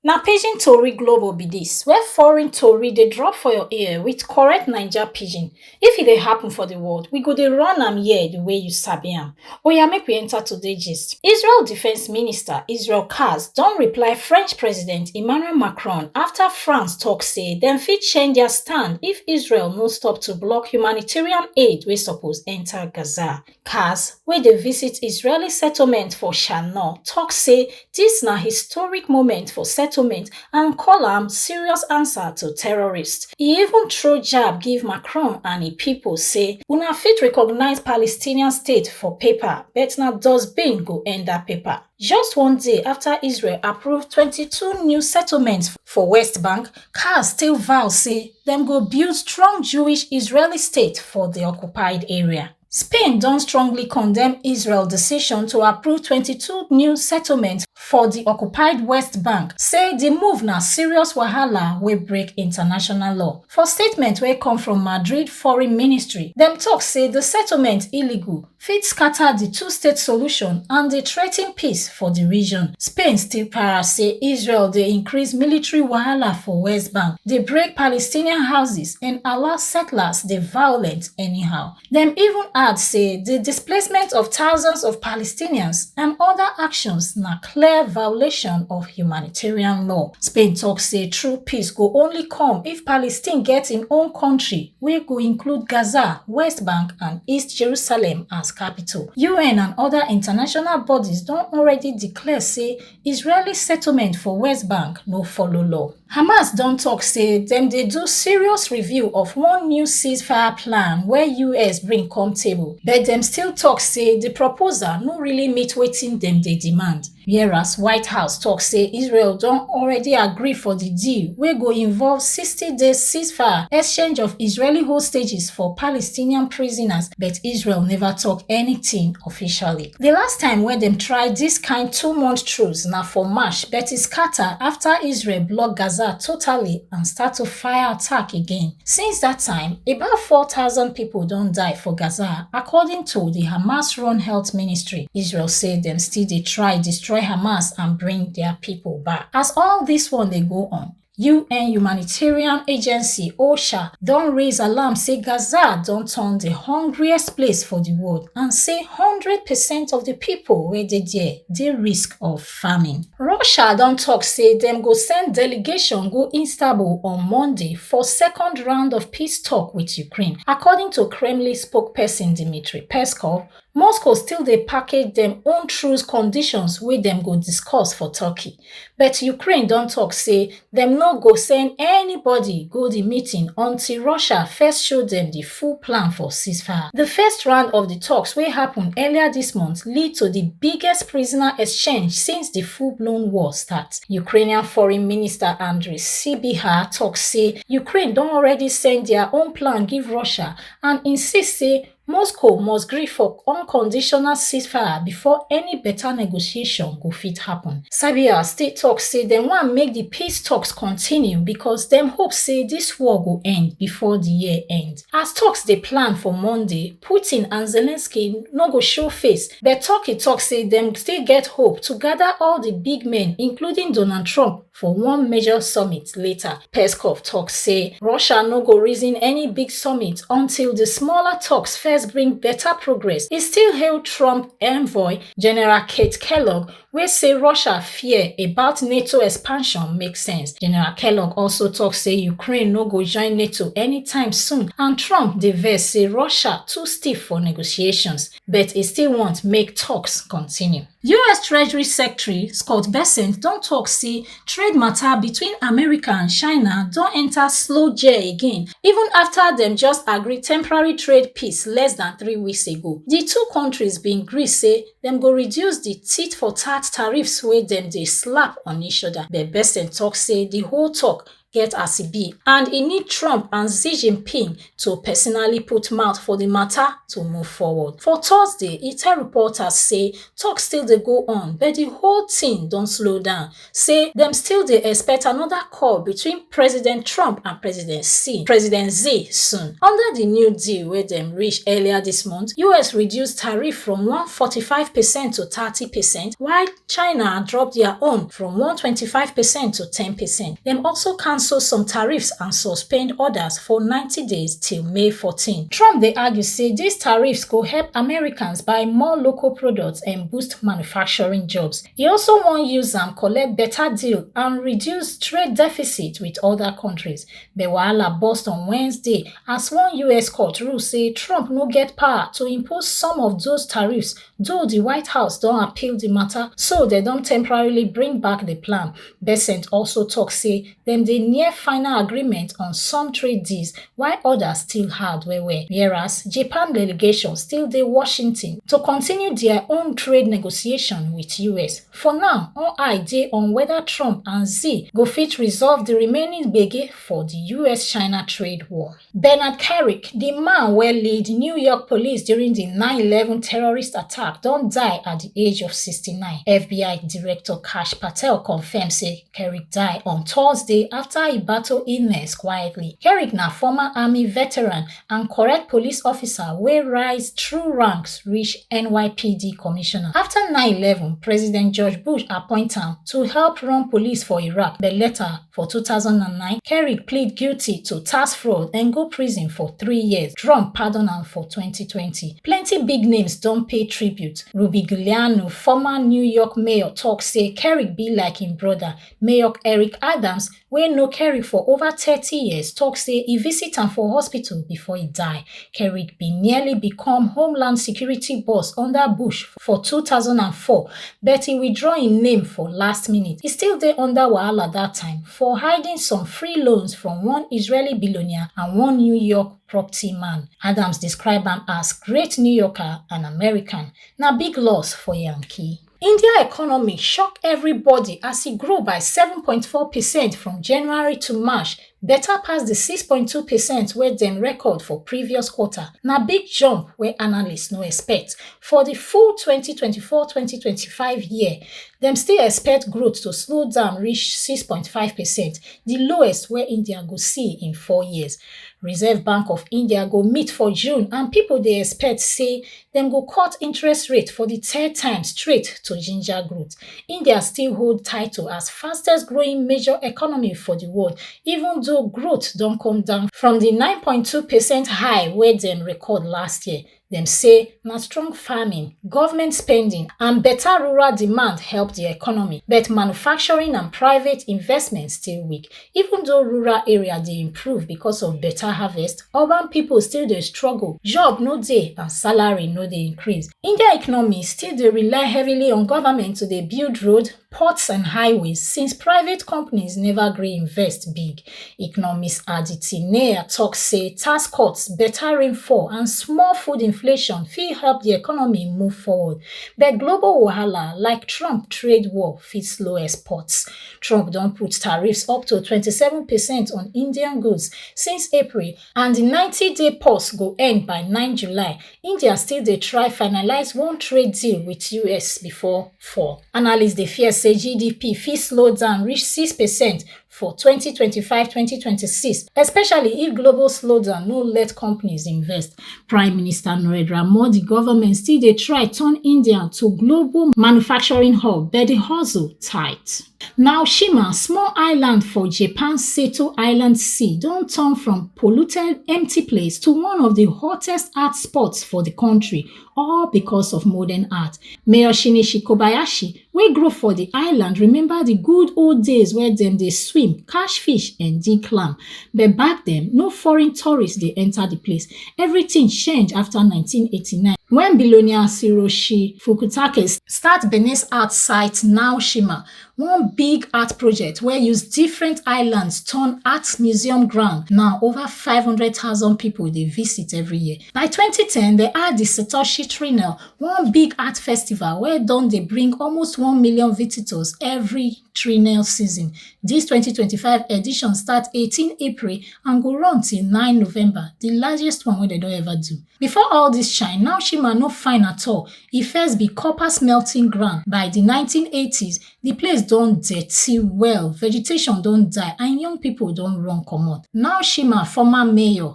Na pidgin tori globo be dis where foreign tori dey drop for your ear with correct Naija pidgin. If e dey happen for the world, we go dey run am here the way you sabi am. Oya make we enter today gist. Israel Defence Minister Israel Katz don reply French President Emmanuel Macron after France talk say dem fit change their stand if Israel no stop to block humanitarian aid wey suppose enter Gaza. Katz, wey dey visit Israeli settlement for Shanor, tok say dis na historic moment for settlement and call am serious answer to terrorists. E even throw jab give Macron and im pipo say una fit recognise Palestinian state for paper but na dustbin go end dat paper. Just one day afta Israel approve twenty two new settlements for West Bank, Katz still vow say dem go build strong Jewish-Israeli state for di occupied area. spain don strongly condemn israel decision to approve 22 new settlements for di occupied west bank say di move na serious wahala wey break international law for statement wey come from madrid foreign ministry dem tok say di settlement illegal fit scata di two-state solution and dey threaten peace for di region spain still para say israel dey increase military wahala for west bank dey break palestinian houses and allow settlers dey violent anyhow. Dem even add say di displacement of thousands of Palestinians and oda actions na clear violation of humanitarian law. Spain tok say true peace go only come if Palestine get im own kontri wey go include Gaza, West Bank and East Jerusalem as capital. UN and oda international bodies don already declare say Israeli settlement for West Bank no follow law. Hamas don talk say dem dey do serious review of one new ceasefire plan wey US bring come table, but dem still talk say the proposal no really meet wetin dem dey demand. Whereas White House talk say Israel don already agree for the deal wey go involve 60 days ceasefire, exchange of Israeli hostages for Palestinian prisoners, but Israel never talk anything officially. Di last time wey dem try dis kain two-month truce na for March but e scata afta Israel block Gaza totally and start to fire attack again. Since dat time, about four thousand pipo don die for Gaza, according to di Hamas-run health ministry. Israel say dem still dey try destroy Hamas and bring dia pipo back. As all dis one dey go on, UN humanitarian agency OSHA don raise alarm say Gaza don turn the hungriest place for the world and say 100% of the people wey dey there dey risk of famine. Russia don talk say dem go send delegation go Istanbul on Monday for second round of peace talk with Ukraine, according to Kremlin spokesperson Dmitry Peskov, moscow still dey package dem own truce conditions wey dem go discuss for turkey but ukraine don tok say dem no go send anybody go di meeting until russia first show dem di full plan for ceasefire di first round of di talks wey happun earlier dis month lead to di biggest prisoner exchange since di full-blown war start ukrainian foreign minister andriy sybiha tok say ukraine don already send dia own plan give russia and insist say moscow must gree for unconditional ceasefire before any beta negotiation go fit happen serbia still tok say dem wan make di peace toks continue becos dem hope say dis war go end before di year end as toks dey plan for monday putin and zelensky no go show face but turkey tok say dem still get hope to gada all di big men including donald trump For one major summit later, Peskov talk say Russia no go reason any big summit until the smaller talks first bring better progress. He still hail Trump envoy General Kate Kellogg wey say Russia fear about NATO expansion make sense. General Kellogg also talk say Ukraine no go join NATO anytime soon and Trump dey vex say Russia too stiff for negotiations. but e still want make talks continue. us treasury secretary scott bessent don tok say trade matter between america and china don enta slow gear again even afta dem just agree temporary trade peace less dan three weeks ago di two kontris bin gree say dem go reduce di tit for tat tariffs wey dem dey slap on each oda but bessent tok say di whole tok get as e be and e need trump and xi jinping to personally put mouth for di matter to move forward for thursday e tell reporters say tok still dey go on but di whole tin don slow down say dem still dey expect anoda call between president trump and president xi president xi soon under di new deal wey dem reach earlier dis month us reduce tariff from 145 percent to 30 percent while China drop dia own from one twenty five percent to ten percent. Dem also cancel some tariffs and suspend odas for ninety days till May fourteen. Trump dey argue say dis tariffs go help Americans buy more local products and boost manufacturing jobs. E also wan use am collect beta deal and reduce trade deficit wit oda kontris. But wahala burst on Wednesday as one us court rule say Trump no get power to impose some of those tariffs Though di White House don appeal di mata, so dem don temporarily bring back di plan. Bessent also tok say dem dey near final agreement on some trade deals while odas still hard well-well, whereas Japan delegation still dey Washington to continue dia own trade negotiation wit us. For now, all eye dey on weda Trump and Xi go fit resolve di remaining gbege for di US-China trade war. Bernard Carrick, di man wey lead New York police during di 9/11 terrorist attack, don die at di age of 69. FBI Director Kash Patel confirm say Carrick die on Thursday afta e battle illness quietly. Carrick na former army veteran and correct police officer wey rise through ranks reach NYPD commissioner. Afta 9/11, President George Bush appoint am to help run police for Iraq, but later, For two thousand and nine, Kerrick plead guilty to tax fraud and go prison for three years. Trump pardon am for twenty twenty. Plenty big names don pay tribute. Ruby Giuliano, former New York mayor, talk say Kerrick be like im brother. Mayor Eric Adams, wey know Kerrick for over thirty years, talk say e visit am for hospital before e die. Kerrick bin nearly become Homeland Security boss under Bush for 2004 but e withdraw im name for last minute. E still dey under wahala dat time for hiding some free loans from one Israeli billionaire and one New York property man. Adams describe am as great New Yorker and American. Na big loss for Yankee. India economy shock everybody as e grow by 7.4 percent from January to March better pass di 6.2 percent wey dem record for previous quarter na big jump wey analysts no expect for di full 2024-2025 year dem still expect growth to slow down reach 6.5 percent di lowest wey india go see in four years reserve bank of india go meet for june and pipo dey expect say dem go cut interest rate for di third time straight to ginger growth. India still hold title as fastest growing major economy for di world even though growth don come down from di 9.2 percent high wey dem record last year. Dem say na strong farming, government spending and better rural demand help di economy, but manufacturing and private investment still weak. Even though rural area dey improve because of better harvest, urban people still dey struggle, job no dey and salary no dey increase. India economy still dey rely heavily on government to dey build road, ports and highways since private companies never gree invest big. Economist Aditi Nair talk say tax cuts, better rainfall and small food inflation fit help the economy move forward. But global wahala like Trump trade war fit slow exports. Trump don put tariffs up to 27 percent on Indian goods since April and di 90-day pause go end by 9 July. India still dey try finalise one trade deal with US before fall. Analysts dey fear say GDP fit slow down reach 6 percent for 2025-2026, especially if global slowdown no let companies invest. Prime Minister Narendra Modi government still dey try turn India to global manufacturing hub, but the hustle tight. Naoshima, small island for Japan Seto Island Sea, don turn from polluted, empty place to one of the hottest art spots for the country, all because of modern art. Mayor Shinichi Kobayashi, wey grow for the island, remember the good old days where dem dey swim, catch fish and dig clam. But back then, no foreign tourists dey enter the place. Everything change after 1989 when billionaire Hiroshi Fukutake start Benin's art site Naoshima, one big art project wey use different islands turn art museum ground. Now, over 500,000 people dey visit every year. By twenty ten, dem add di Satoshi Triennale, one big art festival wey don dey bring almost one million visitors every Triennale season. Dis twenty twenty five edition start eighteen April and go run till nine November, di largest one wey dem don ever do. Before all dis shine, Naoshima no fine at all, e first be copper smelting ground. By di nineteen eighty s, di place don dirty well, vegetation don die and young pipo don run comot. Naoshima former mayor,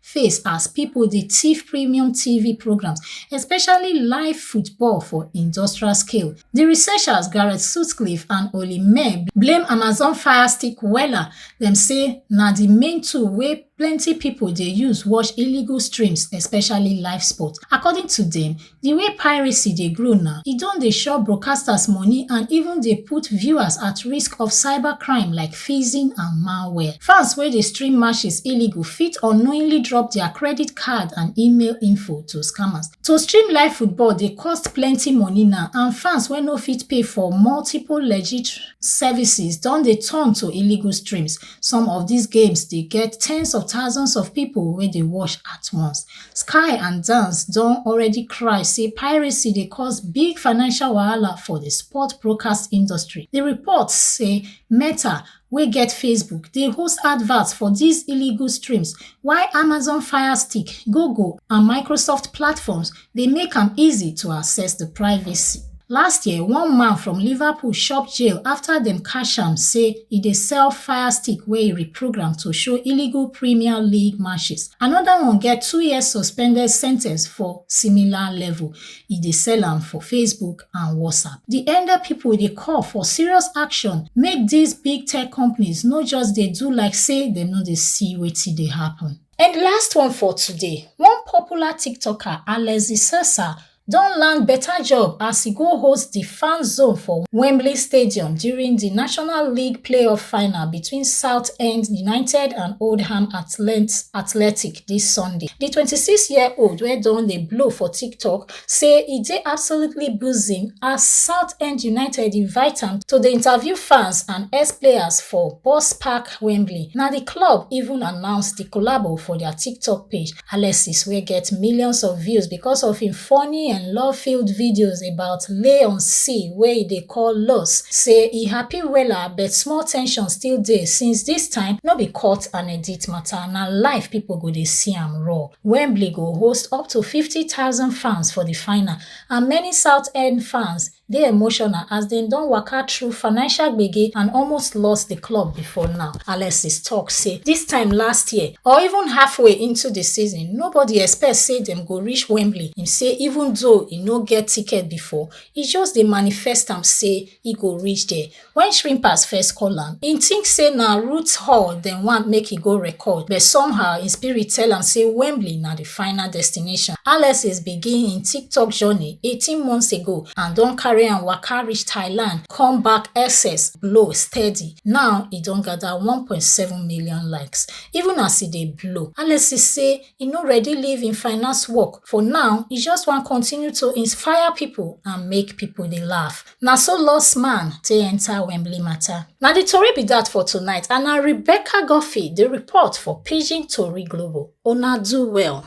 face as pipo dey tiff premium tv programmes especially live football for industrial scale. Di researchers Gareth Sutcliffe and Olly Mehr blame Amazon Fire Stick wella, dem say na di main tool wey plenty pipo dey use watch illegal streams especially live sports. According to dem, Di way piracy dey grow now, e don dey chop broadcasters money and even dey put viewers at risk of cyber crime like phishing and malware. Fans wey dey stream matches illegal fit unknowingly drop dia credit card and email info to scammers. To stream live football dey cost plenty money now and fans wey no fit pay for multiple legit services don dey turn to illegal streams. Some of dis games dey get tens of thousands of pipo wey dey watch at once. Sky and Dance don already cry say piracy dey cause big financial wahala for the sport broadcast industry. The reports say Meta wey get Facebook dey host adverts for these illegal streams while Amazon Fire Stick, Google and Microsoft platforms dey make am easy to access the privacy. Last year, one man from Liverpool chop jail after dem catch am say e dey sell Fire Stick wey e reprogram to show illegal Premier League matches. Another one get two years suspended sentence for similar level. E dey sell am for Facebook and WhatsApp. The Ende people dey call for serious action make these big tech companies no just dey do like say dem no dey see wetin dey happen. And last one for today, one popular TikToker, Alexi Sessa, don land beta job as e go host di Fan Zone for Wembley Stadium during di National League playoff final between Southend United and Oldham Athletic dis Sunday. Di 26-year-old wey don dey blow for TikTok say e dey absolutely buzzing as Southend United invite am to dey interview fans and ex-players for Boss Park Wembley. Na di club even announce di collabo for dia TikTok page. Alexis, wey get millions of views because of im funny and love-filled videos about lay on sea wey e dey call Los, say e happy wella but small tension still dey since dis time no be cut and edit mata, na live pipo go dey see am raw. Wembley go host up to fifty thousand fans for di final and many Southend fans dey emotional as dem don waka through financial gbege and almost lost di club before now. Alexis tok say dis time last year or even halfway into di season nobody expect say dem go reach Wembley, im say even though e no get ticket before, e just dey manifest am say e go reach there. When Shrimpers first call am, he think say na Roots Hall dem want make he go record, but somehow his spirit tell am say Wembley na the final destination. Alexis begin him TikTok journey 18 months ago and don carry am waka reach Thailand, come back SS blow steady. Now he don gather 1.7 million likes. Even as he dey blow, Alexis say he no ready leave him finance work. For now, he just wan continue to inspire people and make people dey laugh. Na so lost man take enter Wembley matter. Na the tori be that for tonight and na Rebecca Guffey dey report for Pidgin Tori Global. Una do well.